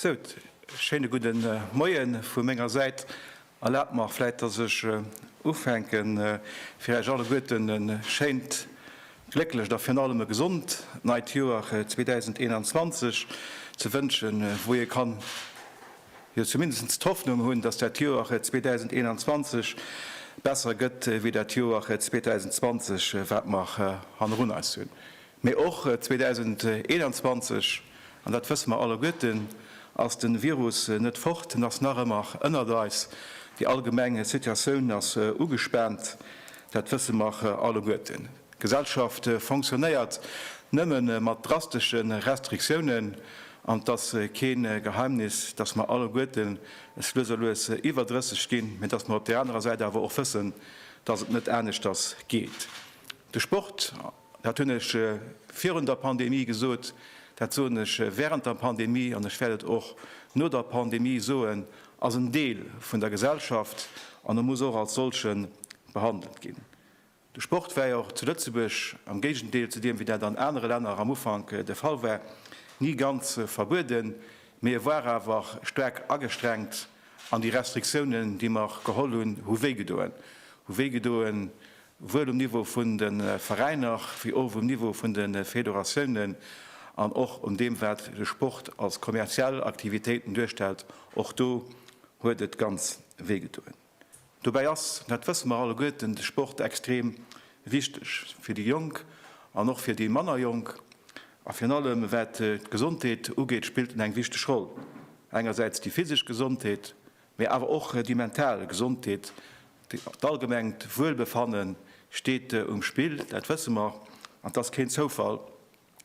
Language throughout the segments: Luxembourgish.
So, schéine guten äh, Moien vu menger Säit. Erlaabt mach fläit, datt ech äh, ufänken äh, fir Äch alleguerten en schéint, glécklecht a virun allem e gesond neit Joer 2021 äh, ze wënschen, wou ee kann. jo zumindest d'Hoffnung hunn, dass dat Joer 2021 besser gëtt wéi dat Joer 2020, wat mer hannerun eis hunn. Mee och 2021, an dat wësse mer alleguerten, ass de Virus net fort, en ass nach ëmmer ënnert eis. Déi allgemeng Situatioun ass ugespaant, dat wësse mer alleguerten. D'Gesellschaft fonctionnéiert nëmme mat drastesche Restriktiounen. An et ass kee Geheimnis, dass mer alleguerten es lues a lues iwwer 30 ginn, mä dass mer op där anerer Säit awer och wëssen, dass et net aneschters geet. De Sport, dat hunn ech virun der Pandemie gesot, dat soen ech während der Pandemie an ech wäert et och no der Pandemie soen, ass en Deel vun der Gesellschaft an e muss och als solchen behandelt ginn. De Sport war jo och zu Lëtzebuerg, am Géigendeel zu deem, wéi dat an anere Länner am Ufank de Fall war, ni ganz verbueden, mee e war awer staark agestrengt an déi Restriktiounen, déi mer geholl hunn, hu wéigedoen. Hu wéigedoen, wuel um Niveau vun de Veräiner, wéi och um Niveau vun de Federatiounen an och un deem, wat de Sport als kommerziell Aktivitéiten duerstellt. Och do huet et ganz wéigedoen. Dobäi ass, dat wësse mer alleguerten, de Sport extrem wichteg fir déi Jonk an och fir déi manner Jonk. A virun allem wat d'Gesondheet ugeet, spillt en eng wichteg Roll. Engersäits déi physesch Gesondheet, mä awer och déi mental Gesondheet, d'allgemengt Wuelbefanne steet um Spill, dat wësse mer, an 't ass keen Zoufall,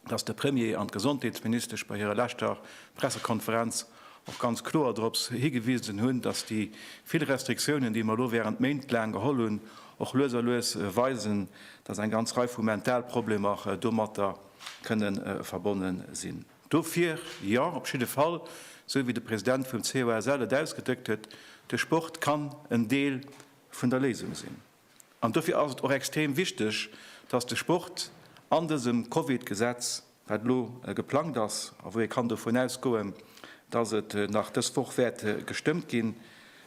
dass de Premier an d'Gesondheetsministesch bei hirer leschter Pressekonferenz och ganz kloer dorops higewisen hunn, dass déi vill Restriktiounen, déi mer elo während Méint laang geholl hunn, och lues a lues weisen, dass eng ganz Rei vu Mentalproblemer domatter kënne verbonne sinn. Dofir jo, op jidde Fall, esou wéi de President vum COSL et ausgedréckt huet, de Sport kann en Deel vun der Léisung sinn. An dofir ass et och extrem wichteg, dass de Sport an dësem Covid-Gesetz, wat elo geplangt ass a wou ee kann dovun ausgoen, dass et nach dës Woch wäert gestëmmt ginn,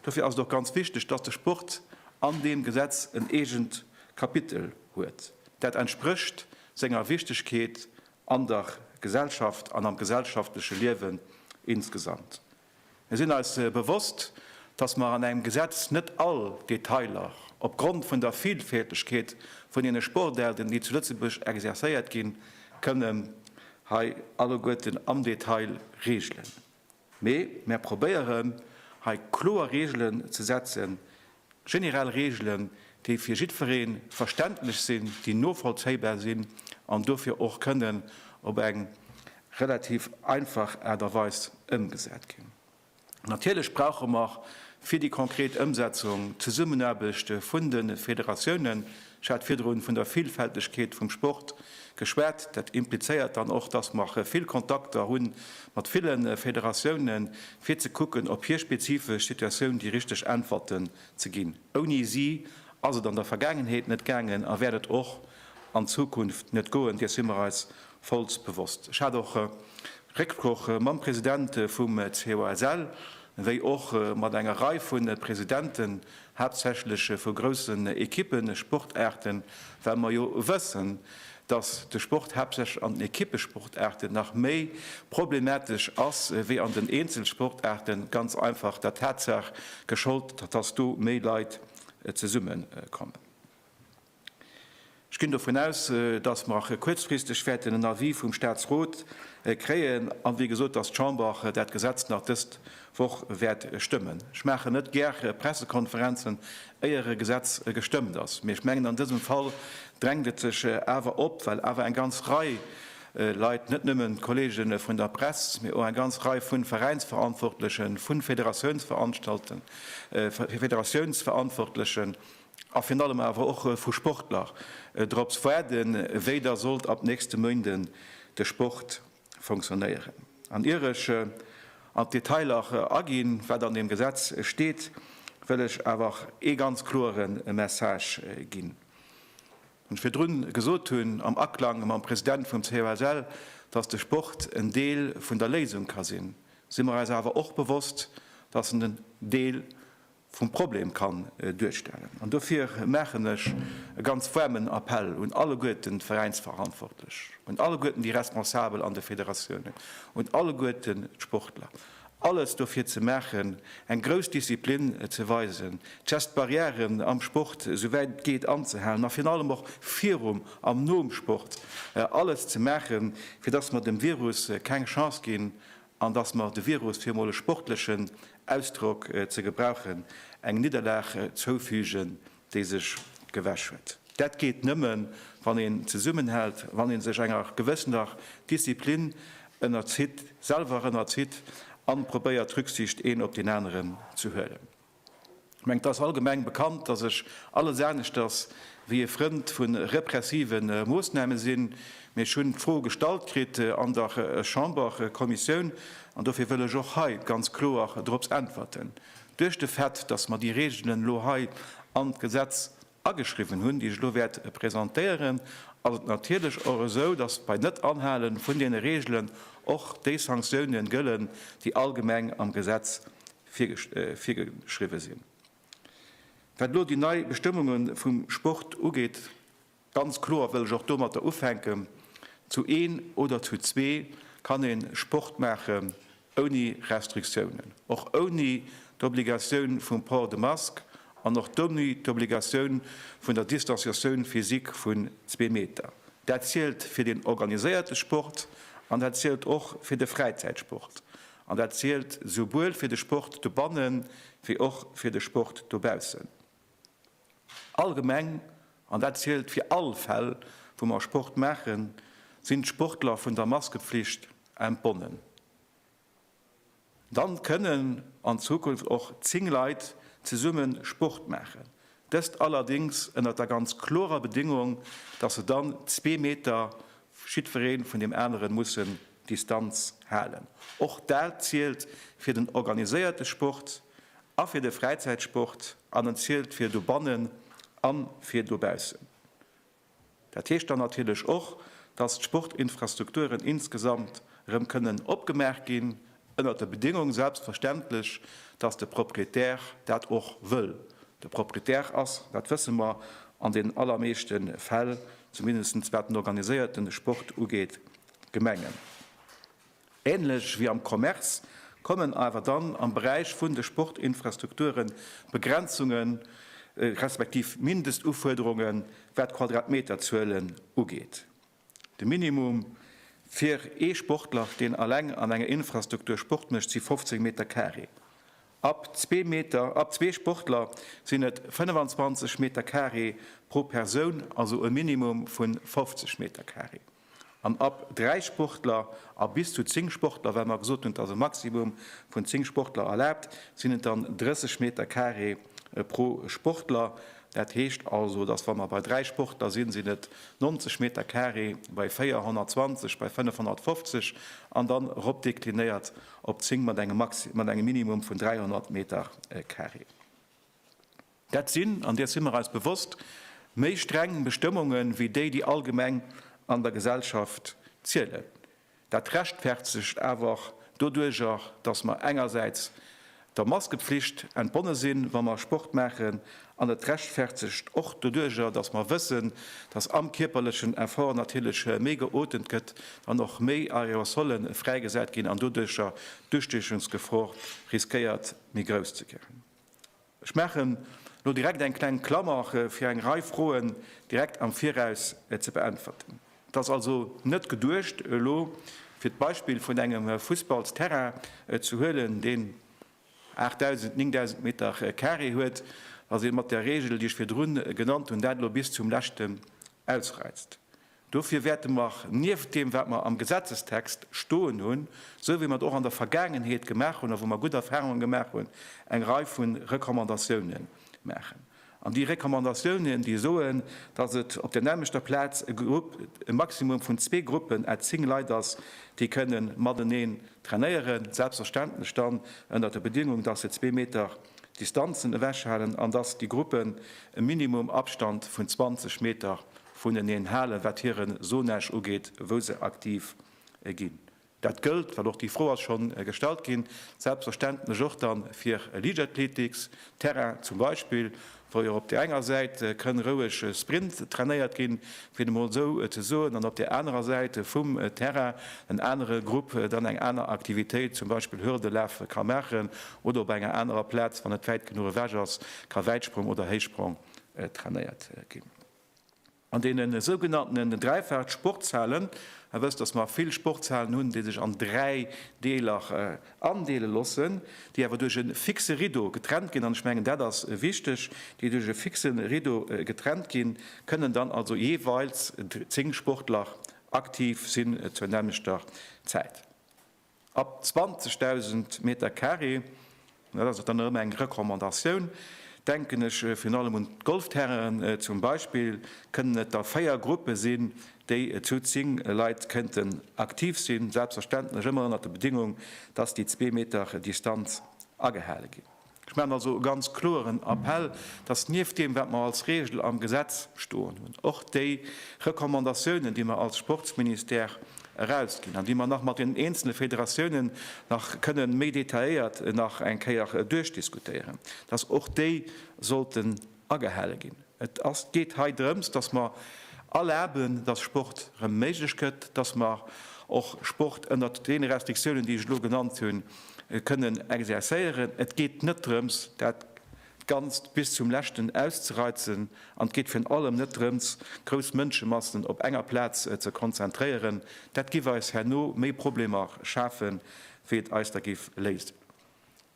dofir ass et och ganz wichteg, dass de Sport an deem Gesetz en eegent Kapitel huet, dat entsprécht senger Wichtigkeet an der Gesellschaft an am gesellschaftleche Liewen insgesamt. Mir sinn eis bewosst, dass mer an engem Gesetz net all Detailer op Grond vun der Vielfältegkeet vun deene Sportaarten, déi zu Lëtzebuerg exerzéiert ginn, kënnen hei alleguerten am Detail regelen. Mee mär probéieren hei kloer Regelen ze setzen, Generell Reegelen, déi fir jiddweree verständlech sinn, déi novollzéibar sinn an dofir och kënnen op eng relativ einfach Aart a Weis ëmgesat ginn. Natierlech brauche mer fir déi konkret Ëmsetzung d'Zesummenaarbecht vun de Federatiounen, Ech hat virdrun vun der Villfältegkeet vum Sport geschwat. Dat implizéiert dann och, dass mer vill Kontakter hu mat ville Federatiounen, fir ze kucken, op hir spezifesch Situatioun déi richteg Äntwerten ze ginn. Ouni si ass et an der Vergaangenheet net gaangen a wäert et och an Zukunft net goen, dees si mer eis vollst bewosst. Ech hat och Récksproch mam President vum COSL, wéi och mat enger Rei vu Presidenten haaptsächlech vu groussen Ekippen, Sportaarten, well mer jo wëssen, dass de Sport haaptsächlech an den Ekippesportaarten nach méi problematesch ass wéi an den Eenzelsportaarten, ganz einfach der Tatsaach gescholdt, dass do méi Leit zesummekommen. Ech ginn dovun aus, dass mer och kuerzfristeg wäerten en Avis vum Statsrot kréien an, wéi gesot, dass d'Chamber dat Gesetz nach dës Woch wäert stëmmen. Ech maachen net gär Pressekonferenzen, éier e Gesetz gestëmmt ass, mee ech mengen, an dësem Fall drängt et sech awer op, well awer eng ganz Rei Leit, net nëmmen d'Kolleege vun der Press, mee och eng ganz Rei vu Veräinsverantwortlechen, vu Federatiounsverantwortlechen, A virun allem awer och vu Sportler drops waarden, wéi da sollt ab nächste Méinde de Sport funktionéieren. An ier ech an d'Detailer aginn, wat an deem Gesetz steet, wëll ech awer ee ganz kloere Message ginn, wou ech virdrun gesot hunn, am Aklang mam President vum COSL, dass de Sport en Deel vun der Léisung ka sinn, si mer eis awer och bewosst, dass en en Deel vum Problem kann duerstellen. An dofir maachen ech e ganz waarmen Appell un alleguerten d'Veräinsverantwortlech, un alleguerten déi Responsabel an de Federatiounen, un alleguerten d'Sportler, alles dofir ze maachen, eng grouss Disziplin ze weisen, d'Gestbarrièren am Sport souwäit et geet anzehalen, ma virun allem och virum an nom Sport alles ze maachen, fir dass mer dem Virus keng Chance ginn an dass mer de Virus, fir emol e sportlechen Ausdrock ze gebrauchen, eng Nidderlag zoufügen, déi sech gewäsch huet. Dat geet nëmme wann een zesummenhält, wann ee sech enger gewëssener Disziplin ënnerzitt, selwer ënnerzitt, a probéiert Rücksicht een op deen aneren ze huelen. Ech mengen, et ass allgemeng bekannt, dass ech alles aneschters wéi e Frënd vu repressive Moosname sinn. Mee ech hunn d'Fro gestallt kritt an der Chamberkommissioun, an dofir wëll ech och hei ganz kloer dorops äntwerten, duerch de Fait, dass mer déi Regeln elo hei an d'Gesetz ageschriwwen hunn, déi ech elo wäert presentéieren, ass et natierlech och esou, datt bei Net-Anhale vun deene Reegelen och déi Sanktiounen gëllen, déi allgemeng am Gesetz virgeschriwwen sinn. Wat elo déi nei Bestëmmunge vum Sport ugeet, ganz kloer wëll ech och domatter ufänken, Zu een oder zu zwee kann ee Sport maachen, Ouni Restriktiounen, och ouni d'Obligatioun vum Port de Masque an och d'ouni d'Obligatioun vun der Distanciatioun physique vun zwee Meter. Dat zielt fir den organiséierte Sport an dat zielt och fir de Fräizäitsport. An dat zielt souwuel fir de Sport dobanne wéi och fir de Sport dobaussen. Allgemeng, an dat zielt fir all Fäll, wou mer Sport maachen, sinn d'Sportler vun der Maskeflicht entbonnen. Dann kënnen an Zukunft och zéng Leit zesumme Sport maachen, dëst allerdéngs ënnert der ganz klorer Bedingung, dass se dann zwee Meter jiddweree vun deem anere musse Distanz halen. Och dat zielt fir den organiséierte Sport. a fir de Fräizäitsport an en zielt fir dobannen a fir dobaussen. Dat heescht dann natierlech och, dass d'Sportinfrastrukturen insgesamt erëm kënnen opgemaach ginn, ënnert der Bedéngung selbstverständlech, dass de Proprietär dat och wëll. De Proprietär ass, dat wësse mer, an den allermeeschte Fäll, zumindest wat den organiséierte Sport ugeet, d'Gemengen. Ähnlech wéi am Commerce kommen awer dann am Beräich vun de Sportinfrastrukture Begrenzunge respektiv Mindest-Ufuerderunge wat d'Quadratmeterzuelen ugeet. De Minimum fir ee Sportler, deen alleng an enger Infrastruktur Sport mécht, si 15 Meter carré. Ab zwee Meter, ab zwee Sportler sinn et 25 Meter carré pro Persoun, also e Minimum vu 50 Meter carré. An ab dräi Sportler a bis zu zéng Sportler, well mer gesot hunn, et ass e Maximum vun zéng Sportler erlaabt, sinn et dann 30 Meter carré pro Sportler. Dat heescht also, dass, wa mer bei dräi Sportler sinn, sinn et 90 Meter carré bei véier, 120 bei fënnef, 150 an dann eropdeklinéiert op zéng mat engem Maxi-, mat engem Minimum vun 300 Meter carré. Dat sinn, an deer si mer eis bewosst, méi streng Bestëmmunge wéi déi, déi allgemeng an der Gesellschaft zielen. Dat rechtfertegt awer och doduerjer, datt mer engersäits der Maskepflicht entbonne sinn, wa mer Sport maachen, an et rechtfertegt och doduerjer, datt mer wëssen, datt am kierperlechen Effort natierlech méi geotemt gëtt an och méi Aerosolle fräigesat ginn an doduerjer d'Ustiechungsgefor riskéiert méi grouss ze ginn. Ech maachen elo direkt eng kleng Klammer, fir eng Rei Froen direkt am Viraus ze beäntwerten. Et ass also net geduecht, elo fir d'Beispill vun engem Fussballsterrain ze huelen, deen 8.000, 9.000 Meter carré huet, datt ee mat där Regel, déi ech virdrun genannt hunn, dat elo bis zum Leschten ausreizt. Dofir wäerte mer nieft deem, wat mer am Gesetzestext stoen hunn, esou wéi mer et och an der Vergaangenheet gemaach hunn a wou mer gutt Erfahrungen gemaach hunn, eng Rei vu Recommandatiounen maachen. An déi Recommandatiounen, déi soen, dass et op der nämmlechter Plaz e Grupp, e Maximum vun zwee Gruppen à zéng Leit ass, déi kënne mateneen trainéieren, selbstverständlech dann ënnert der Bedingung, dass se zwee Meter Distanzen ewechhalen an dass déi Gruppen e Minimum Abstand vun 20 Meter vuneneen halen, wat hire Zonage ugeet, wou se aktiv ginn. Dat gëllt, well och déi Fro ass scho gestallt ginn, selbstverständlech och da fir Liichtathletics, Terrain zum Beispill, wou jo op där enger Säit kënn roueg Sprint trainéiert ginn, fir et emol esou ze soen, an op där anerer Säit vum Terrain en anere Grupp dann eng aner Aktivitéit, zum Beispill Hürdelaf, ka maachen oder op enger anerer Plaz, wann et wäit genuch ewech ass, ka Wäitsprong oder Héichsprong trainéiert ginn. An deene sougenanntenen Dräifach-Sportshalen, Dir wësst, datt mer vill Sportshalen hunn, déi sech an dräi Deeler andeele loossen, déi awer duerch e fixe Rideau getrennt ginn, an ech mengen, dat ass wichteg, déi duerch e fixe Rideau getrennt ginn, kënnen dann also jeeweils zéng Sportler aktiv sinn zur nämmlechter Zäit. Ab 20.000 Meter Carré, dat ass och dann nach ëmmer eng Recommandatioun, denken ech virun allem un d'Golfterrainen zum Beispill, kënnen et da véier Gruppe sinn, déi zu zéng Leit kënnten aktiv sinn, selbstverständlech ëmmer ënnert der Bedingung, dass déi zwee Meter Distanz agehale ginn. Ech maachen also e ganz kloeren Appell, dass nieft deem, wat mer als Regel am Gesetz stoen hunn, och déi Recommandatiounen, déi mer als Sportsministère erausginn an déi mer nach mat den eenzele Federatiounen nach kënne méi detailléiert nach eng Kéier duerchdiskutéieren, dass och déi sollten agehale ginn. Et geet hei drëms, dass mer erlaben, dass Sport erëm méiglech gëtt, dass mer och Sport ënnert deene Restriktiounen, déi ech elo genannt hunn, kënnen exerzéieren. Et geet net drëms, dat Ganzt bis zum Leschten auszereizen, an et geet virun allem net drëms, grouss Mënschemassen op enger Plaz ze konzentréieren. Dat giff eis herno méi Problemer schafen, wéi et eis der giff léisen.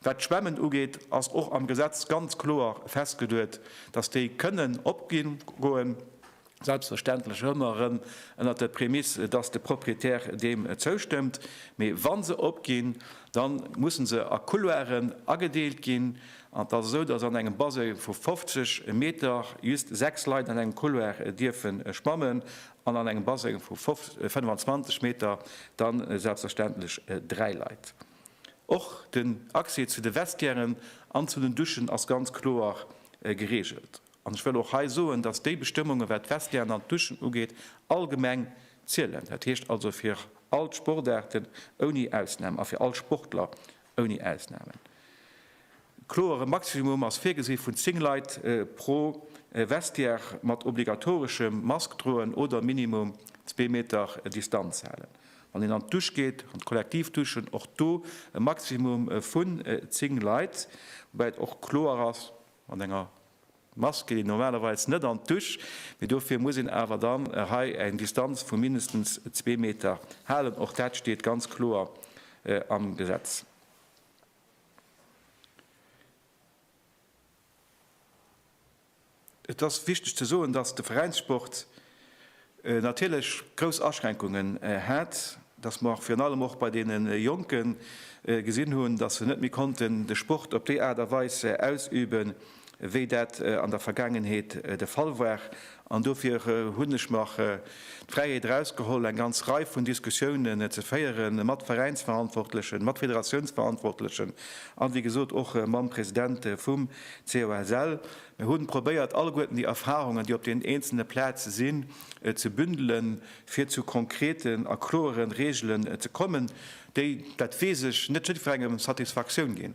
Wat d'Schwämmen ugeet, ass och am Gesetz ganz kloer festgeduet, dass déi kënnen opgoen, selbstverständlech ëmmer erëm ënnert der Prämiss, dass de Proprietär deem zoustëmmt. Mee wa se opginn, da musse se a Couloiren agedeelt ginn. An et ass esou, dass an engem Baseng vu 50 Meter just sechs Leit an engem Couloir dierfe schwammen an an engem Baseng vu 25 Meter dann selbstverständlech dräi Leit. Och den Accès zu de Vestiairen an zu den Duschen ass ganz kloer geregelt. An ech wëll och hei soen, dass déi Bestëmmungen, wat d'Vestiairen an d'Duschen ugeet, allgemeng zielen. Dat heescht also fir all d'Sportaarten ouni Ausnam a fir all Sportler ouni Ausnamen. Kloer, e Maximum ass virgesi vun 10 Leit pro Vestiaire mat obligatoreschem Mask droen oder minimum zwee Meter Distanz halen, wann een an d'Dusch geet, an d'Kollektivduschen. Och do e Maximum vun 10 Leit, woubäi et och kloer ass, mat enger Mask geet een normalerweis net an d'Dusch, mee dofir muss een awer dann hei eng Distanz vu mindestens zwee Meter halen. Och dat steet ganz kloer am Gesetz. Et ass wichteg ze soen, dass de Veräinssport natierlech grouss Aschränkungen hat, dass mer virun allem och bei deene Jonke gesinn hunn, dass se net méi konnten de Sport op déi Aart a Weis ausüben, wéi dat an der Vergaangenheet de Fall war. An dofir hunn ech mer d'Fräiheet erausgeholl, eng ganz Rei vun Diskussiounen ze féieren mat Veräinsverantwortlechen, mat Federatiounsverantwortlechen an, wéi gesot, och mam President vum COSL. Mir hu probéiert, alleguerten déi Erfahrungen, déi op den eenzelne Plaze sinn, ze bündelen, fir zu konkreten a kloere Regelen ze kommen, déi, dat weess ech, net jiddwerengem Satisfaktioun ginn.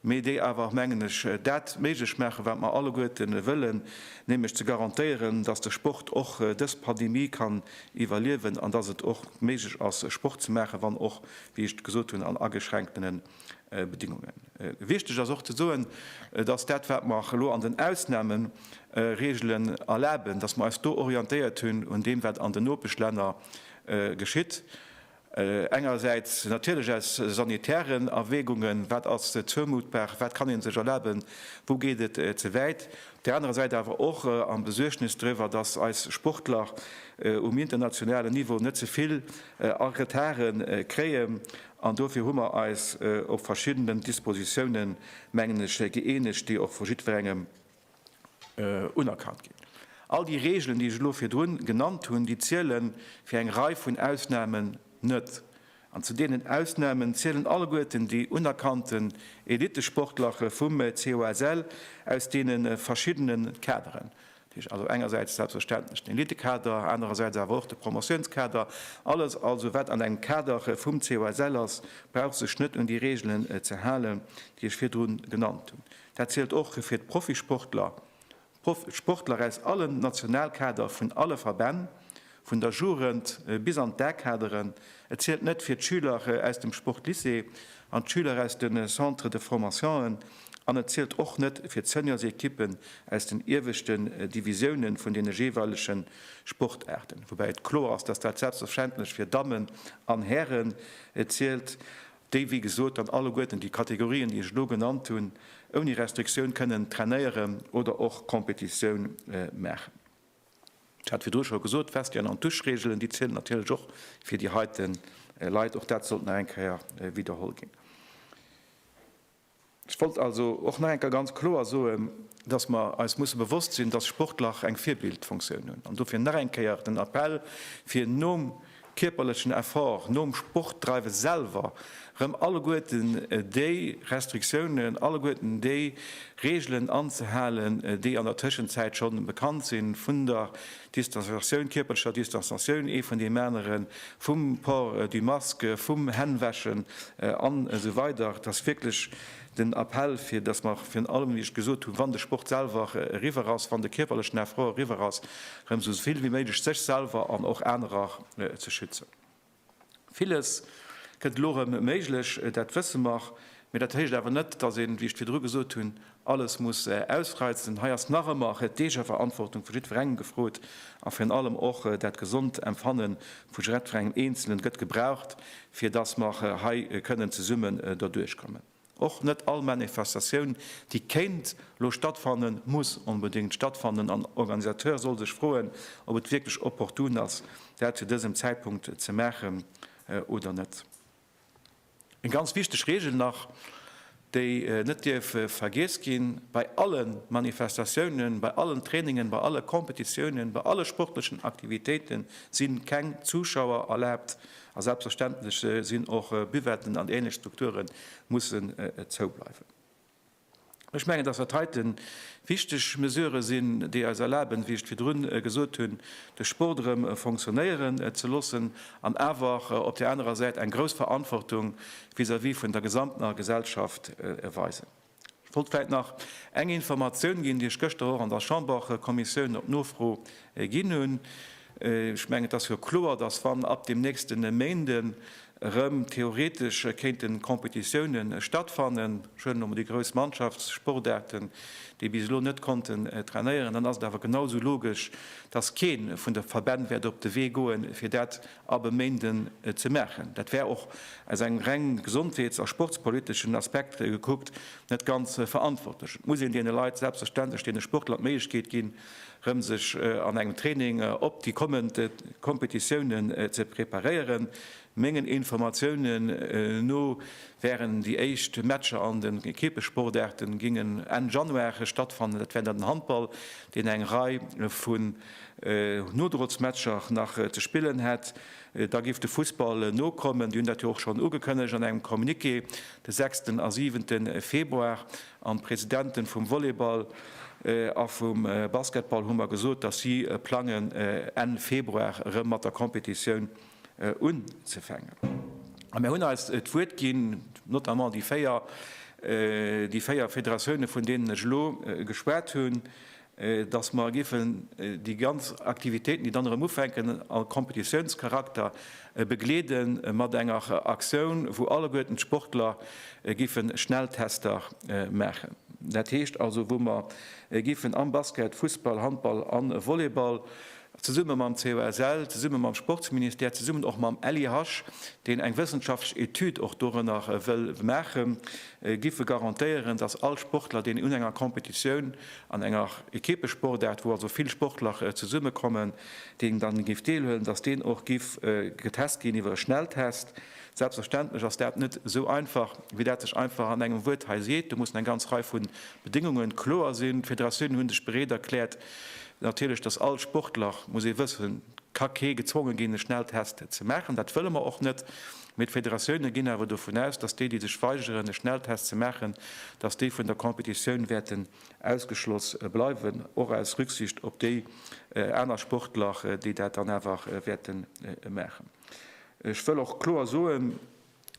mee déi awer, mengen ech, dat méiglech maachen, wat mer alleguerten wëllen, nämlech ze garantéieren, dass de Sport och dës Pandemie kann iwwerliewen an dass et och méiglech ass, Sport ze maachen, wann och, wéi ech gesot hunn, an ageschränktene Bedingungen. Wichtig ass och ze soen, dass dat, wat mer elo an den Ausnahmeregelen erlaben, dass mer eis do orientéiert hunn un deem, wat an den Nopeschlänner geschitt. Engersäits natierlech aus sanitären Erwägungen, wat ass zoumuttbar, wat kann ee sech erlaben, wou geet et ze wäit, op där anerer Säit awer och am Besuergnes driwwer, datt eis Sportler um internationalen Niveau net ze vill a Retarde kréien. An dofir hu mer eis op verschiddenen Dispositiounen, mengen ech, gëeenegt, déi och vu jiddwerengem unerkannt ginn. All déi Reegelen, déi ech elo virdrun genannt hunn, déi ziele fir eng Rei vun Ausnahmen net. An zu deenen Ausnahmen zielen alleguerten déi unerkannten Elittesportlerche vum COSL aus deene verschiddene Kaderen. Dat heescht also engersäits selbstverständlech den Elittekader, anerersäits awer och de Promotiounskader. Alles also, wat an engem Kader vum COSL ass, brauch sech net un déi Reegelen ze halen, déi ech virdrun genannt hunn. Dat zielt och fir d'Profisportler, d'Sportler aus allen Nationalkader vun alle Verbänn, vun der Jugend bis an d'A-Kaderen. Et zielt net fir d'Schüler aus dem Sportlycée an d'Schüler aus de Centres de formation'en an et zielt och net fir d'Seniorsequippen aus den ieweschten Divisioune vun deene jeeweilege Sportaarten. Woubäi et kloer ass, dass dat selbstverständlech fir Dammen an Hären zielt. déi wéi gesot dann alleguerten déi Kategorien, déi ech elo genannt hunn, ouni Restriktioun kënnen trainéieren oder och Competitioun maachen. Ech hat virdru scho gesot, d'Vestiaire an d'Duschregelen, déi zielen natierlech och fir déi heite Leit. Och dat sollt nach eng Kéier widderholl ginn. Ech wollt also och nach eng Kéier ganz kloer soen, dass mer eis musse bewosst sinn, dass Sportler eng Virbildfunktioun hunn. An dofir nach eng Kéier den Appell, fir nom kierperlechen Effort, nom Sportdreiwe selwer erëm alleguerten déi Restriktiounen, alleguerten déi Reegelen anzehalen, déi an der Tëschenzäit schonn bekannt sinn vun der Distanzatioun, kierperlecher Distanzatioun ee vun deem aneren, vum Port du masque, vum Hännwäschen an esou weider Et ass wierklech den Appell, fir datt mer virun allem, wéi ech gesot hunn, wann de Sport selwer eriwwer ass, wann de kierperlechen Effort eriwwer ass, erëm esou vill wéi méiglech sech selwer an och anerer ze schützen. Villes gëtt elo erëm méiglech, dat wësse mer. Mee dat heescht awer net, dass een, wéi ech et virdru gesot hunn, alles muss ausreizen. Hei ass nach ëmmer d'Eegeverantwortung vu jiddwerengem gefrot a virun allem och dat gesond Empfanne vu jiddwerengem Eenzelen gëtt gebraucht, fir dass mer hei kënnen zesumme derduerchkommen. Och net all Manifestatioun, déi kéint lo stattfannen, muss onbedéngt stattfannen an Organisateur soll sech froen, ob et wierklech opportun ass, dat zu dësem Zäitpunkt ze maachen oder net. Eng ganz wichteg Reegel nach, déi net dierf vergiess ginn, Bei alle Manifestatiounen, bei allen Trainingen, bei alle Kompetitiounen, bei alle sportlechen Aktivitéite si keng Zuschauer erlaabt, A selbstverständlech sinn och Buvetten an ähnlech Strukture mussen zou bleiwen. Ech mengen, dass dat heiten wichteg Mesurë sinn, déi eis erlaben, wéi ech et virdrun gesot hunn, de Sport erëm fonctionnéieren ze loossen an awer op där anerer Säit eng grouss Verantwortung vis-à-vis vun der gesamter Gesellschaft weisen. Ech wollt vläit nach eng Informatioun ginn, déi ech gëschter och an der Chamberkommissioun op Nofro ginn hunn. Ech mengen, et ass jo kloer, dass, wann ab dem nächste Méinde erëm theoretesch kéinte Competitioune stattfannen, ech huelen elo mol déi grouss Mannschaftssportaarten, déi bis elo net konnten trainéieren, dann ass et awer genau esou logesch, dass kee vun de Verbänn wäert op de Wee goen, fir dat ab e Méinden ze maachen. Dat wär och aus engem reng gesondheets a sportspoliteschen Aspekt gekuckt net ganz verantwortlech. Et muss een deene Leit, selbstverständlech deene Sportler, d'Méiglechkeet ginn, erëm sech an engem Training op déi kommend Kompetitiounen ze preparéieren. Mengen Informatiounen no wären déi éischt Matcher an den Ekippessportaarten, gingen Enn Januar stattfannen. Dat wär dann den Handball, deen eng Rei vu Nodrozmatcher nach ze spillen hätt, da géif de Fussball nokommen. Déi hunn dat jo och schonn ugekënnegt an engem Communiqué de sechsten a siwente Februar. An d'Presidente vum Volleyball a vum Basketball hu mer gesot, datt si plangen, Enn Februar erëm mat der Competitioun unzefänken. A mir hunn eis d'Wuert ginn, notamment déi véier, déi véier Federatioune, vun deenen ech elo geschwat hunn, datt mer giffen déi ganz Aktivitéiten, déi dann erëm ufänken, a Kompetitiounscharakter begleede mat enger Aktioun, wou alleguerten d'Sportler giffe Schnelltester maachen. Dat heescht also, wou mer giffen am Basket, Fussball, Handball a Volleyball zesumme mam COSL, zesumme mam Sportsministère, zesummen och mam LIH, deen eng wëssenschaftlech Etüd och dorënner wëll maachen, giff e garantéieren, datt all Sportler, deen un enger Competitioun, an enger Equippesportaart, wou also vill Sportler zesummekommen, deen dann giff deelhuelen, datt deen och giff getest ginn iwwer e Schnelltest. Selbstverständlech ass dat net esou einfach, wéi dat sech einfach an engem Wuert hei seet. Do mussen eng ganz Rei vu Bedéngungen kloer sinn. D'Federatiounen hu sech bereet erkläert, Natierlech, dass all Sportler, muss ee wëssen, ka kee gezwonge ginn, e Schnelltest ze maachen. Dat wëlle mer och net. Mee d'Federatioune ginn awer dovun aus, dass déi, déi sech weigeren, e Schnelltest ze maachen, dass déi vun der Competitioun wäerten ausgeschloss bleiwen, och aus Rücksicht op déi aner Sportler, déi dat dann awer wäerte maachen. Ech wëll och kloer soen,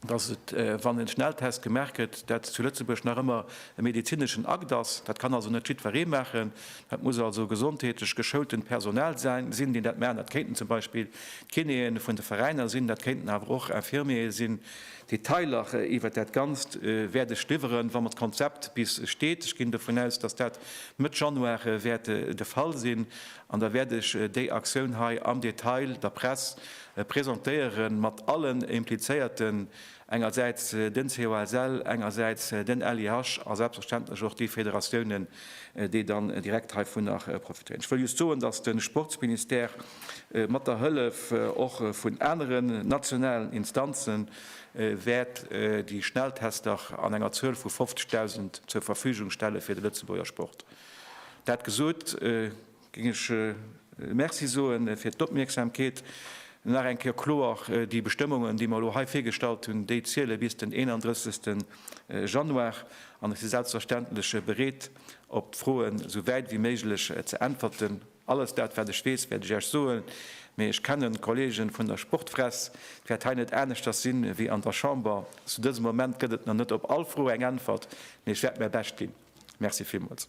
dass et, wann e Schnelltest gemaach gëtt, dat zu Lëtzebuerg nach ëmmer e medezineschen Akt ass. Dat kann also net jiddweree maachen. Dat muss also gesondheetlech geschoultent Personal sinn, deen dat maachen. Dat kéinten zum Beispill d'Kinéeën vun de Veräiner sinn, dat kéinten awer och Infirmiere sinn. Detailer iwwert dat Ganzt wäert ech liwweren, wa mer d'Konzept bis steet, ech ginn dovun aus, dass dat Mëtt Januar wäert de Fall sinn, an da wäert ech déi Aktioun hei am Detail der Press presentéieren, mat allen Implizéierten, engersäits den COSL, engersäits den LIH a selbstverständlech och déi Federatiounen, déi dann direkt heivunner profitéieren. Ech wëll just soen, dass de Sportsministère mat der Hëllef och vun aneren nationalen Instanze wäert déi Schnelltester an enger Zuel vu 50.000 zur Verfügung stelle fir de Lëtzebuerger Sport. Dat gesot, Géing ech Merci soen fir d'Opmierksamkeet. Nach eng Kéier kloer, Déi Bestëmmungen, déi mer elo hei virgestallt hunn, déi ziele bis den 31. Januar. An ech si selbstverständlech bereet, op d'Froen esou wäit wéi méiglech ze äntwerten. Alles dat, wat ech weess, wäert ech Iech soen. Mee ech kennen d'Kollege vun der Sportfress. Et wäert hei net aneschters sinn, wéi an der Chamber. Zu dësem Moment gëtt et nach net op all Fro eng Äntwert, mee ech wäert mäi Bescht ginn. Merci villmools.